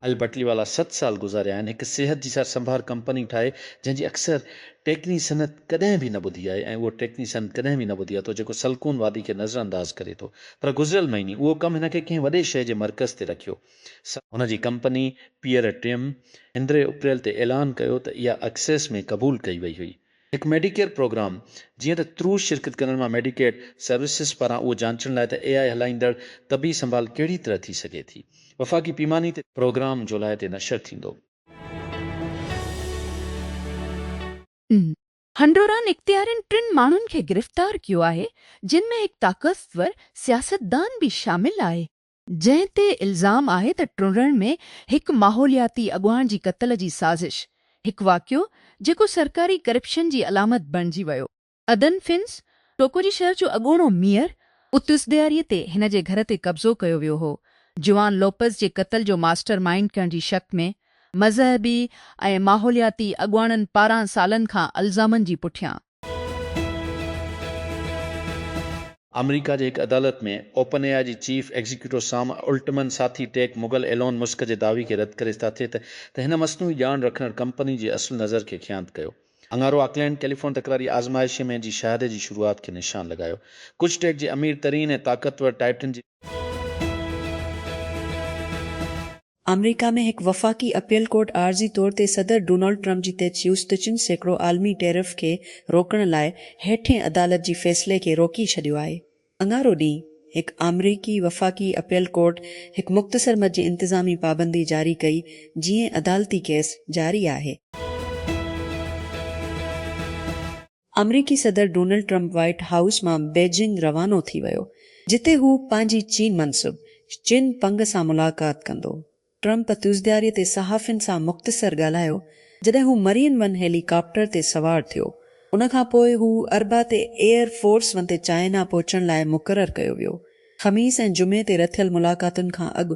اهل بٽلي والا ست سال گذاريا آهن هڪ صحت جي سار سنڀار ڪمپني ٺاهي جنهن جي اڪثر ٽيڪني صنعت ڪڏهن به نه ٻڌي آهي ۽ اهو ٽيڪني صنعت ڪڏهن به نه ٻڌي آهي ٿو جيڪو سلڪون وادي کي نظر انداز ڪري ٿو پر گذريل مهيني اهو ڪم هن کي ڪنهن وڏي شهر جي مرڪز تي رکيو سا هن جي ڪمپني پيئر ٽيم اندرين اپريل تي اعلان ڪيو ته اها اڪسيس ۾ قبول ڪئي وئي هئي هڪ ميڊيڪيئر پروگرام، جيئن ته ترو شرڪت ڪندڙن مان ميڊيڪيڊ سروسز پاران اهو جانچڻ لاء ته اي آء هلائيندڙ طبي سنڀال ڪهڙي طرح ٿي سگهي ٿي، وفاقي پيماني تي. پروگرام جولاء تي نشر ٿيندو. هنڊوران اختيارين ٽن ماڻهن کي گرفتار ڪيو آهي جن ۾ هڪ طاقتور سياستدان به شامل آهي. جنهن تي الزام آهي ته ٽنڊڻ ۾ هڪ ماحولياتي اڳواڻ جي قتل جي سازش، هڪ واقعو جيڪو سرڪاري ڪرپشن جي علامت بڻجي ويو. ادن فنس، ٽوڪوجي شهر جو اڳوڻو ميئر، اتس ڏياري تي هن جي گهر تي قبضو ڪيو ويو هو، جوان لوپز جي قتل جو ماسٽر مائينڊ ڪرڻ جي شڪ ۾ مذهبي ۽ ماحولياتي اڳواڻن پاران سالن کان الزامن جي پٺيان. آمريڪا جي هڪ عدالت ۾ اوپن اي آء جي چيف ايگزيڪيوٽو سام الٽمن ساٿي ٽيڪ مغل ايلون مسڪ جي دعوي کي رد ڪري ساٿي ته ته هن مصنوعي ڄاڻ رکندڙ ڪمپني جي اصل نظر کي خيانت ڪيو اڱارو آڪلينڊ ڪيليفون تڪراري آزمائشي ۾ جي شهادي جي شروعات کي نشان لڳايو ڪجهه ٽيڪ جي امير ترين ۽ طاقتور ٽائٽن جي آمريڪا ۾ هڪ وفاقي اپيل ڪورٽ عارضي طور تي صدر ڊونلڊ ٽرمپ جي تي چيوس ته چن سيڪڙو عالمي ٽيرف کي روڪڻ لاء هيٺين عدالت جي فيصلي کي روڪي ڇڏيو آهي. اڱارو ڏينهن هڪ آمريڪي وفاقي اپيل ڪورٽ هڪ مختصر مد جي انتظامي پابندي جاري ڪئي جيئن عدالتي ڪيس جاري آهي. آمريڪي صدر ڊونلڊ ٽرمپ وائيٽ هائوس مان بيجنگ روانو ٿي ويو جتي هو پنهنجي چين منصب چن پنگ سان ملاقات ڪندو. ٽرمپ تيوزدياري تي صحافين سان مختصر ڳالهايو جڏهن هو مرين ون هيلي ڪاپٽر تي سوار ٿيو. ان کان پوء هو اربع تي ايئر فورس ون تي چائنا پهچڻ لاء مقرر ڪيو ويو. خميس ۽ جمعي تي رٿيل ملاقاتن کان اڳ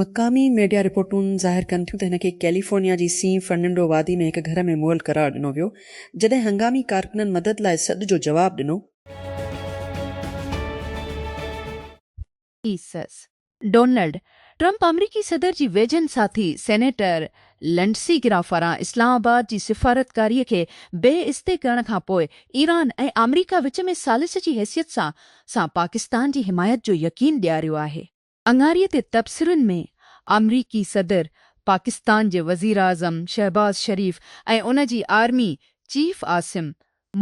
مقامي ميڊيا رپورٽون ظاهر ڪن ٿيون ته هن کي ڪيليفورنيا جي سين فرننڊو وادي ۾ هڪ گهر ۾ مئل قرار ڏنو ويو، جڏهن هنگامي ڪارڪنن مدد لاء سڏ جو جواب ڏنو. ايسز، ڊونلڊ ٽرمپ آمريڪي صدر جي ويجهن ساٿي سينيٽر لنڊسي گرام پاران اسلام آباد جي سفارتڪاري کي بي استي ڪرڻ کان پوء ايران ۽ آمريڪا وچ ۾ ثالث جي حيثيت سان سان پاڪستان جي حمايت جو يقين ڏياريو آهي. اڱاري تي تبصرن ۾ آمريڪي صدر، پاڪستان جي وزيراعظم شهباز شريف ۽ ان جي آرمي چيف عاصم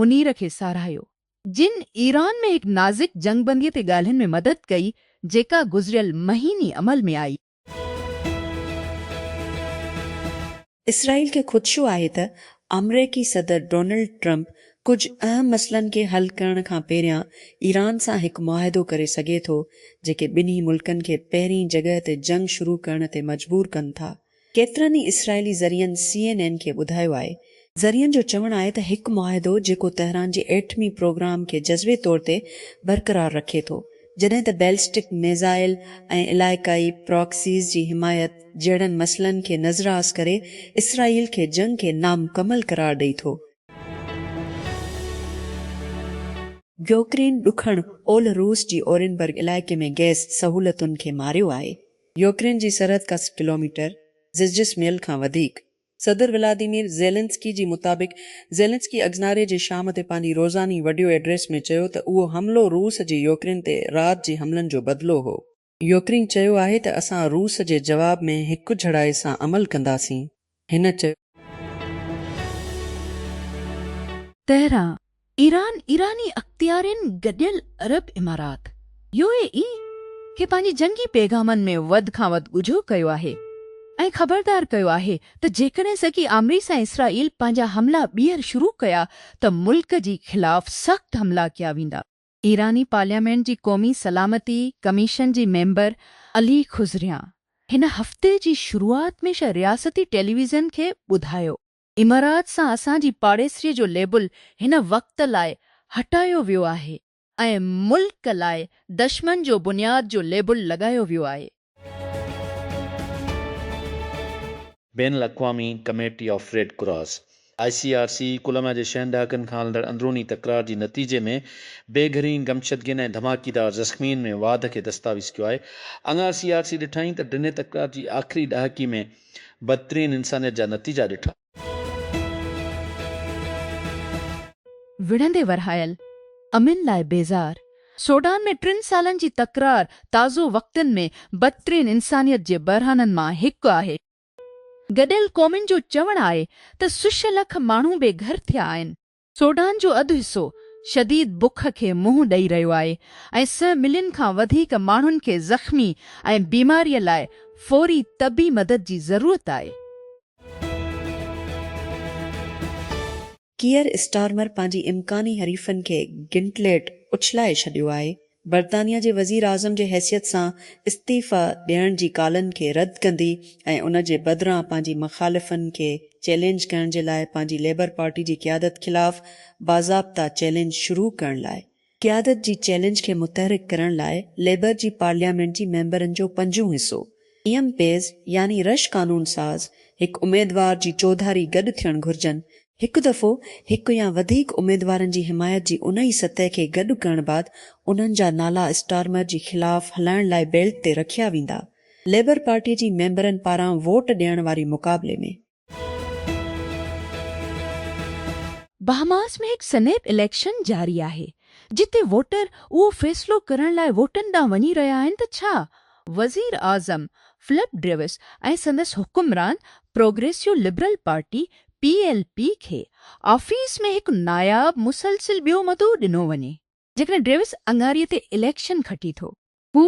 منير کي ساراهيو، جن ايران ۾ هڪ نازڪ جنگ بندي تي ڳالهين ۾ مدد ڪئي، جيڪا گذريل مهيني عمل ۾ آئي. اسرائيل کي خدشو آهي ته آمريڪي صدر ڊونلڊ ٽرمپ ڪجهه اهم مسئلن کي حل ڪرڻ کان پهريان ايران سان هڪ معاهدو ڪري سگهي ٿو، جيڪي ٻنهي ملڪن کي پهرين جڳهه تي جنگ شروع ڪرڻ تي مجبور ڪن ٿا. ڪيترن ئي اسرائيلي ذريعن سي اين اين کي ٻڌايو آهي، ذريعن جو چوڻ آهي ته هڪ معاهدو جيڪو تهران جي ايٽمي پروگرام کي جزوي طور تي برقرار رکي ٿو جڏهن ته بيلسٽڪ ميزائل ۽ علائقائي پراڪسيز جي حمايت جهڙن مسئلن کي نظراس ڪري اسرائيل کي جنگ کي نامڪمل قرار ڏئي ٿو. يوڪرين ڏکڻ اولھ روس جي اورينبرگ علائقي ۾ گئس سهولتن کي ماريو آهي. يوڪرين جي سرحد کان سٺ ڪلوميٽر، زجسميل کان وڌيڪ، صدر ولاديمير زيلنسڪي جي مطابق زيلنسڪي اگزناري جي شام تي پنهنجي روزاني وڊيو ايڊريس ۾ چيو ته اهو حملو روس جي يوڪرين تي رات جي حملن جو بدلو هو. يوڪرين چيو آهي ته اسان روس جي جواب ۾ هڪجھڙائي سان عمل ڪنداسين، هن چيو. تهران، ايران، ايراني اختيارين گڏيل عرب امارات، يو اي اي، کي پنهنجي جنگي پيغامن ۾ وڌ کان وڌ ڳجهو ڪيو آهي ۽ خبردار ڪيو آهي ته جيڪڏهن سگي آمريس ۽ اسرائيل پنهنجا حملا ٻيهر شروع ڪيا ته ملڪ جي خلاف سخت حملا ڪيا ويندا. ايراني پارليامينٽ جي قومي سلامتي ڪميشن جي ميمبر علي خضريان هن هفتي جي شروعات ۾ رياستي ٽيليويزن کي ٻڌايو امارات سان اسان جي پاڙيسري جو ليبل هن وقت لاء هٽايو ويو آهي ۽ ملڪ لاء دشمن جو بنياد جو ليبل لڳايو ويو آهي. بين الاقوامي committee of red cross, I C R C, Colombia جي ڇهن ڏهاڪن کان هلندڙ اندروني تڪرار جي نتيجي ۾ بي گهرين گمشدگين ۽ ڌماڪيدار زخمين ۾ واڌ کي دستاويز ڪيو آهي. اڱار سي آر سي ڏٺائين ته ڊنهي تڪرار جي آخري ڏهاڪي ۾ بدترين انسانيت جا نتيجا ڏٺا. وڙهندي ورهايل، امن لاء بيزار، سوڊان ۾ ٽن سالن جي تڪرار تازو وقتن ۾ بدترين انسانيت جي بحرانن مان هڪ آهي. گڏيل قومن جو چوڻ آهي ته سش لک ماڻهو بي گهر ٿيا آهن. سوڊان جو اڌ حصو شديد بک کي منهن ڏئي رهيو آهي ۽ سئه ملين کان وڌيڪ ماڻهن کي زخمي ۽ بيماريء لاء فوري طبي مدد جي ضرورت آهي. ڪيئر اسٽارمر پنهنجي امڪاني حريفن کي گنٽليٽ اڇلائي ڇڏيو آهي برطانيا جي وزيراعظم جي حيثيت سان استعيفيٰ ڏيڻ جي ڪالن کي رد ڪندي ۽ ان جي بدران پنهنجي مخالفن کي چئلينج ڪرڻ جي لاء پنهنجي ليبر پارٽي جي قيادت خلاف باضابطه چئلينج شروع ڪرڻ لاء قيادت جي چئلينج کي متحرڪ ڪرڻ لاء ليبر جي پارليامينٽ جي ميمبرن جو پنجون حصو ايم پيز يعني رش قانون ساز هڪ اميدوار جي چوڌاري گڏ ٿيڻ گهرجن هڪ دفعو هڪ يا وڌيڪ اميدوارن جي حمايت جي انهي سطح کي گڏ ڪرڻ بعد انهن جا نالا اسٽارمر جي خلاف هلائڻ لاء بيلٽ تي رکيا ويندا. ليبر پارٽي جي ميمبرن پاران ووٽ ڏيڻ واري مقابلي ۾. بهاماس ۾ هڪ سنيپ اليڪشن جاري آهي، جتي ووٽر اهو فيصلو ڪرڻ لاء ووٽن ڏانهن وڃي رهيا آهن ته ڇا وزيراعظم فلپ ڊريوس ۽ سندس حڪمران progressive liberal party, P L P کي آفيس ۾ هڪ ناياب مسلسل ٻيو مدو ڏنو وڃي. جيڪڏهن ڊيوس اڱاري تي اليڪشن کٽي ٿو. هو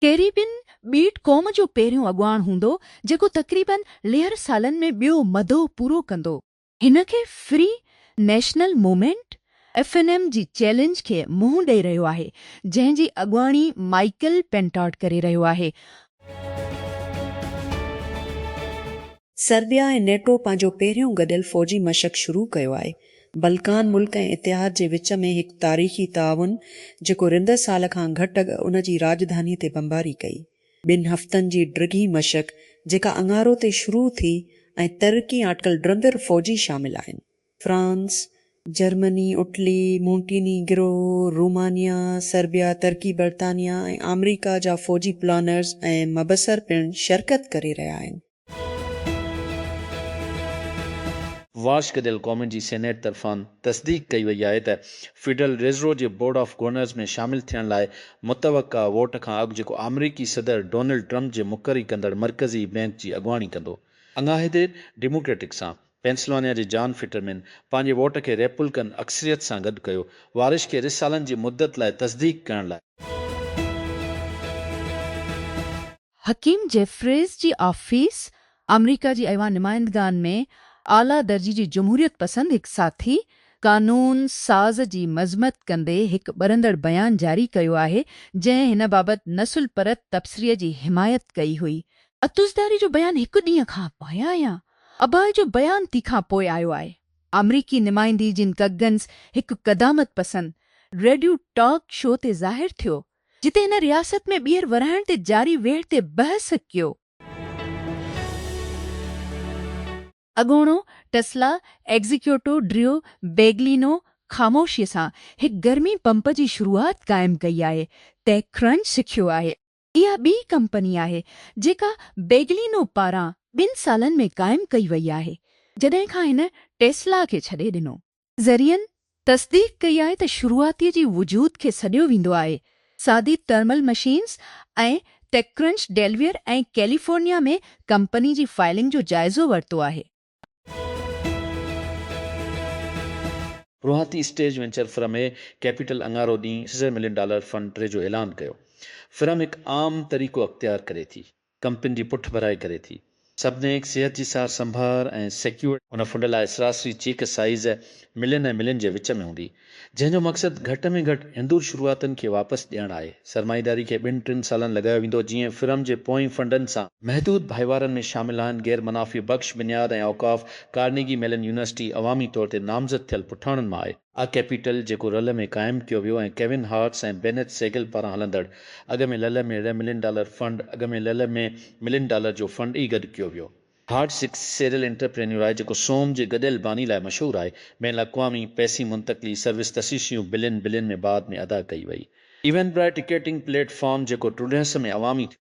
ڪيريبين ٻيٽ قوم جو پهريون اڳواڻ هوندو جيڪو تقريباً ليهر سالن ۾ ٻيو مدو پورو ڪندو. هن کي free national movement F N M جي چئلينج کي منهن ڏئي رهيو آهي جنهن جي اڳواڻي مائيڪل پينٽاٽ ڪري رهيو آهي. سربيا ۽ نيٽو پنهنجو پهريون گڏيل فوجي مشق شروع ڪيو آهي. بلڪان ملڪ ۽ اتحاد جي وچ ۾ هڪ تاريخي تعاون جيڪو رندر سال کان گهٽ اڳ ان جي راڄڌاني تي بمباري ڪئي. ٻن هفتن جي ڊگهي مشق جيڪا اڱارو تي شروع ٿي ۽ ترقي آٽڪل ڊرندر فوجي شامل آهن. France, Germany, Italy, Montenegro, Romania, Serbia, Turkey, برطانيا ۽ آمريڪا جا فوجي پلانرز ۽ مبصر پڻ شرڪت ڪري رهيا آهن. واشڪ ديل قومن جي سينيٽ طرفان تصديق ڪئي وئي آهي ته فيڊرل ريزرو جي بورڊ آف گورنرز ۾ شامل ٿيڻ لاء متوقع ووٽ کان اڳ جيڪو آمريڪي صدر ڊونلڊ ٽرمپ جي مقري ڪندڙ مرڪزي بئنڪ جي اڳواڻي ڪندو. اڱاهي دير ڊيموڪريٽڪ سان پينسلوانيا جي جان فٽرمين پنهنجي ووٽ کي ريپولڪن اڪثريت سان گڏ ڪيو، وارش کي رھ سالن جي مدت لاء تصديق ڪرڻ لاء. حڪيم جيفريز جي آفيس آمريڪا جي ايوان نمائندگان ۾ اعليٰ درجي جي جمهوريت پسند هڪ ساٿي قانون ساز جي مذمت ڪندي هڪ ٻرندڙ بيان جاري ڪيو آهي جنهن هن بابت نسل پرت تبصري جي حمايت ڪئي هئي. عطوزرداري جو بيان هڪ ڏينهن کان پايان يا اباهه جو بيان تي کان پوء آيو آهي. آمريڪي نمائندي جن ڪگنز هڪ قدامت پسند ريڊيو ٽاڪ شو تي ظاهر ٿيو، جتي هن رياست ۾ ٻيهر ورهائڻ تي جاري ويڙهه تي بحث ڪيو. اڳوڻو ٽسلا ايگزيڪيوٽو ڊريو بيگلينو خاموشيء سان هڪ گرمي پمپ جي شروعات قائم ڪئي آهي، ٽيڪ ڪرنچ سکيو آهي. اها ٻي ڪمپني آهي جيڪا بيگلينو پاران ٻن سالن ۾ قائم ڪئي وئي آهي جڏهن کان هن ٽيسلا کي ڇڏي ڏنو. ذريعن تصديق ڪئي آهي ته شروعاتي جي وجود کي سڏيو ويندو آهي، سادي thermal machines ۽ TechCrunch Delaware ۽ California ۾ company جي فائلنگ جو جائزو ورتو آهي. روهاتي stage venture firm A capital اڱارو ڏينهن سيزر ملين ڊالر فنڊ ٽري جو اعلان ڪيو. فرم هڪ عام طريقو اختيار ڪري ٿي. ڪمپني جي پٺڀرائي ڪري ٿي. سبنيڪ صحت جي سار سنڀار ۽ سيڪيورڊ. هن فنڊ لاء سراسري چيڪ سائيز ملين ۽ ملين جي وچ ۾ هوندي. جنهن جو مقصد گهٽ ۾ گهٽ هندور شروعاتن کي واپس ڏيڻ آهي. سرمائيداري کي ٻن ٽن سالن لڳايو ويندو جيئن فرم جي پوئين فنڊن سان. محدود ڀائيوارن ۾ شامل آهن غير منافع بخش بنياد ۽ اوقاف، ڪارنيگي ميلن يونيورسٽي عوامي طور تي نامزد ٿيل پٺاڻن مان آهي. آء ڪيپيٽل جيڪو رل ۾ قائم ڪيو ويو ۽ ڪيون هارٽس ۽ بينيٿ سيگل پاران هلندڙ اڳ ۾ لل ۾ ري ملين ڊالر فنڊ اڳ ۾ لل ۾ ملين ڊالر جو فنڊ ئي گڏ ڪيو ويو. هارڊ سڪ سيريل انٽرپرينيور آهي جيڪو سوم جي گڏيل باني لاء مشهور آهي. بين الاقوامي پئسي منتقلي سروس تشيشيون بلين بلين ۾ بعد ۾ ادا ڪئي وئي. Eventbrite ticketing platform جيڪو ٽرڊهس ۾ عوامي ٿيو.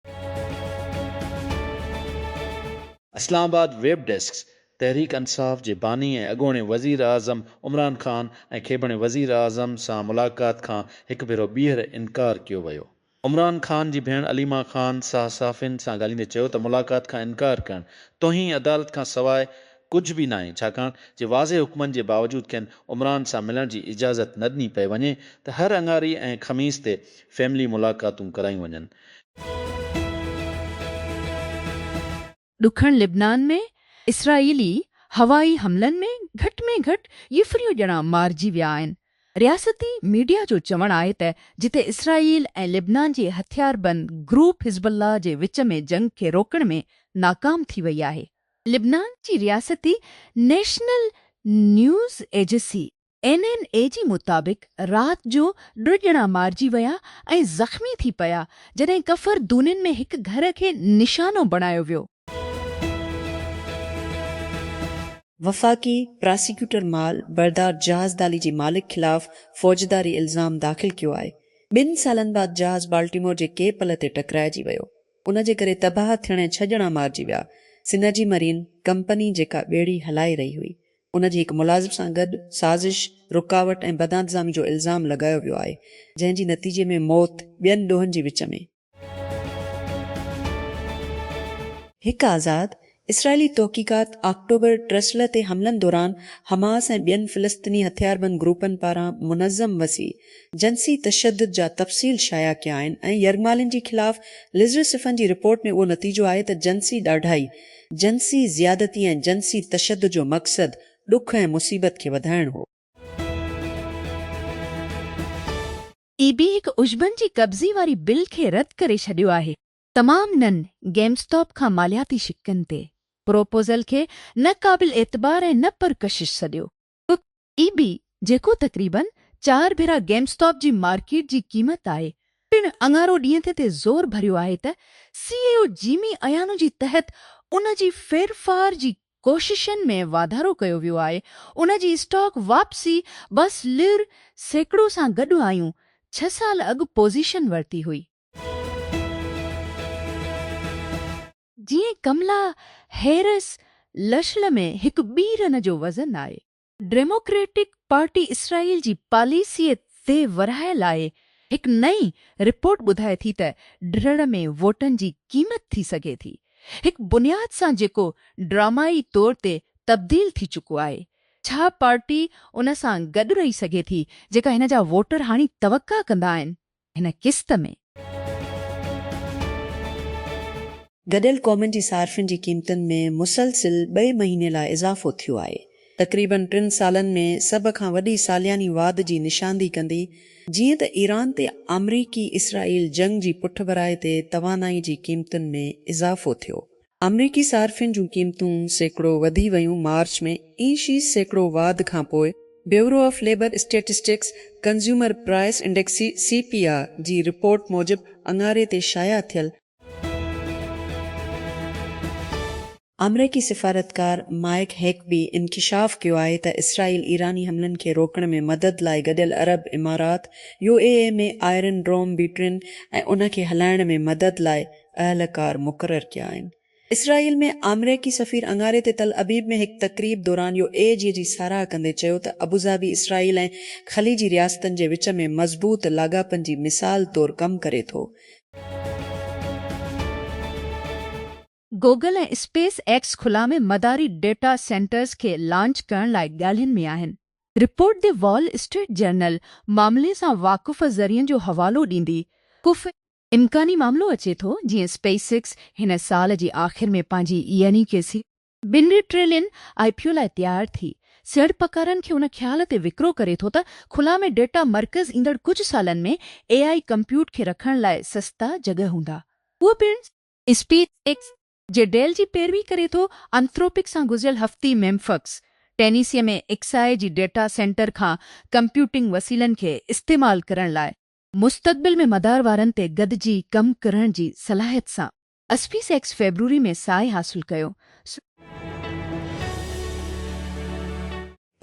اسلام آباد، ويب ڊيسڪ، تحريڪ انصاف جي باني ۽ اڳوڻي وزيراعظم عمران خان ۽ کيبڻي وزيراعظم سان ملاقات کان هڪ ڀيرو ٻيهر انڪار ڪيو ويو عمران خان جي ڀيڻ عليما خان صحافين سان ڳالهيندي چيو ته ملاقات کان انڪار ڪرڻ توهين عدالت کان سواء ڪجهه به ناهي ڇاڪاڻ جي واضح حڪمن جي باوجود کين عمران سان ملڻ جي اجازت نه ڏني پئي وڃي ته هر اڱاري ۽ خميس تي فيملي ملاقاتون ڪرايون وڃن. ڏکڻ لبنان ۾ اسرائيلي هوائي حملن ۾ گهٽ ۾ گهٽ يفريون ڄڻا مارجي ويا آهن. رياستي ميڊيا جو چوڻ آهي ته جتي اسرائيل ۽ لبنان جي هٿياربند گروپ حزب الله جي وچ ۾ جنگ کي روڪڻ ۾ ناڪام ٿي وئي آهي. لبنان جي رياستي نيشنل نيوز ايجسي اين اين اي جي مطابق رات جو ٽه ڄڻا مارجي ويا ۽ زخمي ٿي پيا جڏهن ڪفر دونين ۾ هڪ گهر کي نشانو بڻايو ويو. وفاقي پراسيڪيوٽر مال بردار جهاز دالي جي مالڪ خلاف فوجداري الزام داخل ڪيو آهي، ٻن سالن بعد جهاز بالٽيمور جي ڪي پل تي ٽڪرائجي ويو، ان جي ڪري تباهه ٿيڻ ۽ ڇهه ڄڻا مارجي ويا، سنرجي مرين ڪمپني جيڪا ٻيڙي هلائي رهي هئي، ان جي هڪ ملازم سان گڏ سازش، رڪاوٽ ۽ بدانتظامي جو الزام لڳايو ويو آهي، جنهن جي نتيجي ۾ موت ٻين ڏوهن جي وچ ۾. هڪ آزاد اسرائيلي تحقيقات آڪٽوبر ٽرسلر تي حملن دوران حماس ۽ ٻين فلسطيني هٿياربند گروپن پاران منظم وسيع جنسي تشدد جا تفصيل شايع ڪيا آهن ۽ يرغمالين جي خلاف لزرسفن جي رپورٽ ۾ اهو نتيجو آهي ته جنسي ڏاڍائي جنسي زيادتي ۽ جنسي تشدد جو مقصد ڏک ۽ مصيبت کي وڌائڻ هو. اي بي هڪ عشبن جي قبضي واري بل کي رد ڪري ڇڏيو آهي. تمام نن گيم اسٽاپ کان مالياتي شقن تي پروپوزل کي نه قابل اعتبار ۽ نه پرڪشش سڏيو. ڪک اي بي جيڪو تقريباً چار ڀيرا گيم اسٽاپ جي مارڪيٽ جي قيمت آهي پڻ اڱارو ڏينهن تي تي زور ڀريو آهي ته سي اي او جيمي ايانو جي تحت ان جي ڦيرڦار جي ڪوششن ۾ واڌارو ڪيو ويو آهي ان جي اسٽاڪ واپسي بس لر سيڪڙو سان گڏ آيون ڇهه سال اڳ پوزيشن ورتي هئي. جيئن ڪملا هيرس لشل ۾ هڪ ٻي رن جو وزن آهي. ڊيموڪريٽڪ پارٽي اسرائيل جي پاليسيء تي ورهاء لاء هڪ نئين رپورٽ ٻڌائي ٿي ته ڊھڙ ۾ ووٽن جي قيمت ٿي سگهي ٿي هڪ بنياد سان جيڪو ڊرامائي طور تي تبديل ٿي چڪو آهي ڇا پارٽي ان سان گڏ رهي سگهي ٿي جيڪا هن جا ووٽر هاڻي توقع ڪندا آهن هن قسط ۾. گڏيل قومن جي صارفين جي قيمتن ۾ مسلسل ٻئي مهيني لاء اضافو ٿيو آهي. تقريبن ٽن سالن ۾ سڀ کان وڏي سالياني واڌ جي نشاندهي ڪندي جيئن ته ايران تي آمريڪي اسرائيل جنگ جي پٺڀرائي تي توانائي جي قيمتن ۾ اضافو ٿيو آمريڪي صارفين جون قيمتون سيڪڙو وڌي ويون مارچ ۾ اي شي سيڪڙو واڌ کانپوء bureau of labor statistics consumer price index, C P I, جي رپورٽ موجب اڱاري تي شايع ٿيل، آمريڪي سفارتڪار مائيڪ هيڪبي انڪشاف ڪيو آهي ته اسرائيل ايراني حملن کي روڪڻ ۾ مدد لاء گڏيل عرب امارات، U A E, ۾ iron dome بيٽرين ۽ ان کي هلائڻ ۾ مدد لاء اهلڪار مقرر ڪيا آهن. اسرائيل ۾ آمريڪي سفير اڱاري تي تل ابيب ۾ هڪ تقريب دوران يو اي جي جي ساراهه ڪندي چيو ته ابوظهبي اسرائيل ۽ خليجي رياستن جي وچ ۾ مضبوط لاڳاپن جي مثال طور ڪم ڪري ٿو. گوگل ۽ اسپيس ايڪس خلا ۾ مداري ڊيٽا سينٽرز کي لانچ ڪرڻ لاء ڳالهين ۾ آهن. Report the Wall Street Journal معاملي سان واقف ذريعن جو حوالو ڏيندي ڪف امڪاني معاملو اچي ٿو جيئن اسپيس ايڪس هن سال جي آخر ۾ پنهنجي يعني ڪي سي. ٻن ٽريلين آء پي او لاء تيار ٿي سيڙپڪارن کي ان خيال تي وڪرو ڪري ٿو ته خلا ۾ ڊيٽا مرڪز ايندڙ ڪجهه سالن ۾ اي آء ڪمپيوٽ کي رکڻ لاء سستا جڳهه هوندا اهو پڻ اسپيس ايڪس جي ڊيل جي پيروي ڪري ٿو انٿروپڪ سان گذريل هفتي ميمفڪس ٽينيسي ۾ ايڪس آء جي ڊيٽا سينٽر کان ڪمپيوٽنگ وسيلن کي استعمال ڪرڻ لاء مستقبل ۾ مدار وارن تي گڏجي ڪم ڪرڻ جي صلاحيت سان اسپيس ايڪس فيبروري ۾ ساهي حاصل ڪيو.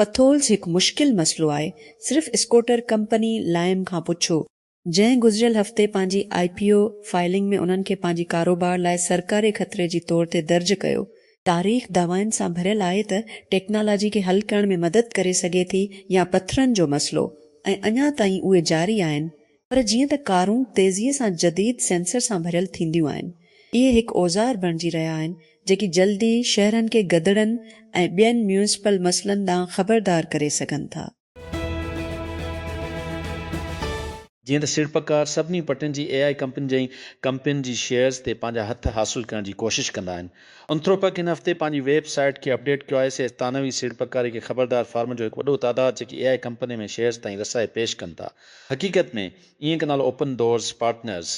پٿولز هڪ مشڪل مسئلو آهي، صرف اسڪوٽر ڪمپني لائم کان پڇو، جنهن گذريل هفتي پنهنجي آء پي او فائلنگ ۾ انهن کي پنهنجي ڪاروبار لاء سرڪاري خطري جي طور تي درج ڪيو، تاريخ دعوائن سان ڀريل آهي ته ٽيڪنالاجي کي حل ڪرڻ ۾ مدد ڪري سگهي ٿي يا پٿرن جو مسئلو ۽ اڃا تائين اهي جاري آهن پر جيئن ته ڪارون تيزيء سان جديد سينسر سان ڀريل ٿينديون آهن اهي هڪ اوزار بڻجي رهيا آهن جيڪي جلدي شهرن کي گدڙن ۽ ٻين ميونسپل مسئلن ڏانهن خبردار ڪري سگهن ٿا. جيئن ته سيڙپڪار سڀني پٽين جي اي آء ڪمپنين جي ڪمپنين جي شيئرز تي پنهنجا هٿ حاصل ڪرڻ جي ڪوشش ڪندا آهن. انٿروپڪ هن هفتي پنهنجي ويب سائيٽ کي اپڊيٽ ڪيو آهي. سيئرز ثانوي سيڙپڪاري کي خبردار فارمن جو هڪ وڏو تعداد جيڪي اي آء ڪمپنين ۾ شيئرز تائين رسائي پيش ڪن ٿا. حقيقت ۾ اينڪ نالو اوپن ڊورز پارٽنرز